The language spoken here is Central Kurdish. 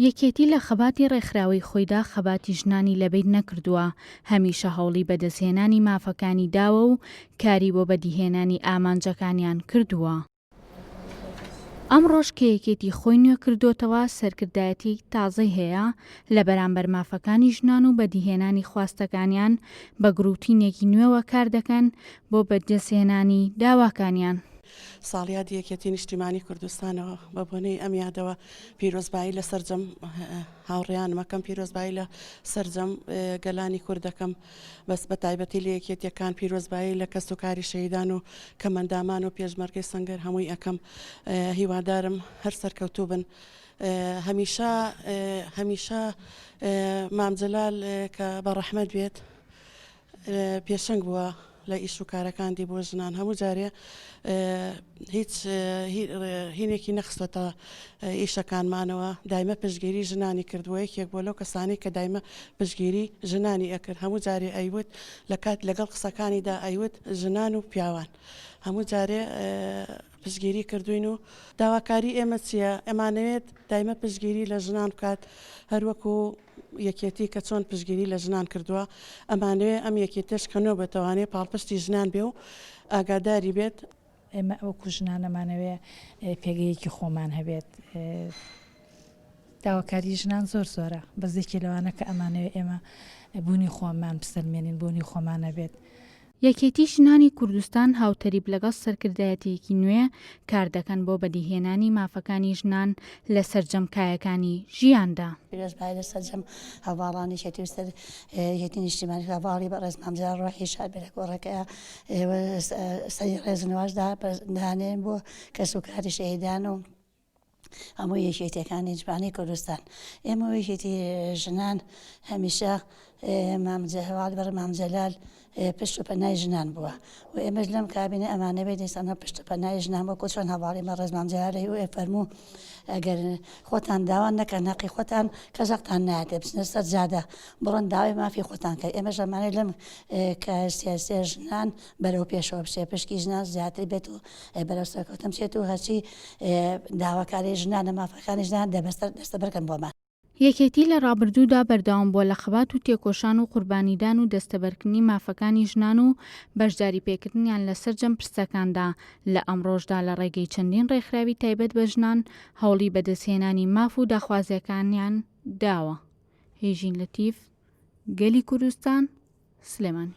یەکێتی لە خەباتی ڕێکخراوەی خۆیدا خەباتی ژنانی لەبیر نەکردووە، هەمیشە هەوڵی بەدەستهێنانی مافەکانی داوە و کاری بۆ بەدیهێنانی ئامانجەکانیان کردووە. ئەمڕۆش کە یەکێتی خۆی نوێکردۆتەوە، سەرکردایەتیەکی تازەی هەیە، لە بەرامبەر مافەکانی ژنان و بەدیهێنانی خواستەکانیان بە گروتینێکی نوێوە کاردەکەن بۆ بەدەستهێنانی داواکانیان. ساڵیادی یەکێتی نیشتیمانی کوردستانەوە بە بۆنەی ئەم یادەوە پیرۆزبایی لە سرجەم هاوڕیانمەکەم پیرۆزبایی لە سرجەم گەلانی کوردەکەم بەس بە تایبەتی لە یەکێتیەکان پیرۆزبایی لە کەس و کاری شەیدان و کەمەندامان و پێشمەرگەی سنگەر هەمووی ئەەکەم هیوادارم هەر سەرکەوتوو بن. هەمیشە هەمیشە مامجلال کە بە ڕەحمەت بێت پێشەنگ بووە لە ئیش و کارەکاندی بۆ ژنان هەموو جارێ هیچ هینێکی نەخستەتە ئیشەکانمانەوە دایمە پشگیری ژنانی کردووە یەکێک بۆ لەو کەسانی کە دایمە پشگیری ژنانی ئەکرد هەموو جارێ ئەیوت لە کات لەگەڵ قسەکانیدا ئەیوت ژنان و پیاوان هەموو جارێ پشگیری کردوین و داواکاری ئێمە چییە ئەمانەوێت دایمە پشگیری لە ژنان بکات هەروەکو یەکێتی کە چۆن پشتگیری لە ژنان کردووە، ئەمانەوێ ئەم یەکێتیەش کە نۆ بەتەوانێ پاڵپشتی ژنان بێ و ئاگاداری بێت. ئێمە وەکو ژنان ئەمانەوێ پێگەیەکی خۆمان هەبێت. داواکاری ژنان زۆر زۆرە، بەس یەکێ لەوانە کە ئەمانەوێ ئێمە بوونی خۆمان بسەلمێنین، بوونی خۆمان هەبێت. یەکێتی ژنانی کوردستان هاوتەریب لەگەڵ سەرکردایەتیەکی نوێ کاردەکەن بۆ بەدیهێنانی مافەکانی ژنان لە سەرجەم کایەکانی ژیاندا. پیرۆز بایە لە سەرجەم هەڤاڵانی یەکێتی و سەر یەتی نیشتیمانی هەڤاڵی بەڕێز مام جەلال ڕۆحی شاد بێ لە کۆڕەکەیا و سەری ڕێز و نواز دانێن بۆ کەس و کاری شەهیدان و هەموو یەکێتیەکانی جبانی کوردستان ئێمە وەیکێتی ژنان هەمیشە مام جەهوال بەڕ مام جەلال پشت و پەنای ژنان بووە و ئێمەش لەم کابینە ئەمانەوێت دیسانە پشت و پەنای ژنان وەکو چۆن هەواڵی مەڕێز مام جەلالەی و فەرموو ئەگەر خۆتان داوان نەکەن نەقی خۆتان کەژەقتان ناتێ بچنە سەر جادە بڕۆن داوای مافی خۆتان کە ئێمە ژەمانەی لەم کە سیاسیە ژنان بەرەو پێشەوە بچێت پشکی ژنان زیاتر بێت و بەرەو سەرکەوتن بچێت و هەرچی داواکاری ژنانە مافەکانی ژنان دەبەسەر دەستەبەرکەن بۆمان. یەکێتی لە ڕابردوودا بەردەوام بووە لە خەبات و تێکۆشان و قوربانیدان و دەستەبەرکردنی مافەکانی ژنان و بەشداری پێکردنیان لە سەرجەم پرسەکاندا، لە ئەمڕۆشدا لە ڕێگەی چەندین ڕێکخراوی تایبەت بە ژنان هەوڵی بەدەستهێنانی ماف و داخوازییەکانیان داوە. هیژین لەتیف گەلی کوردستان سلێمانی.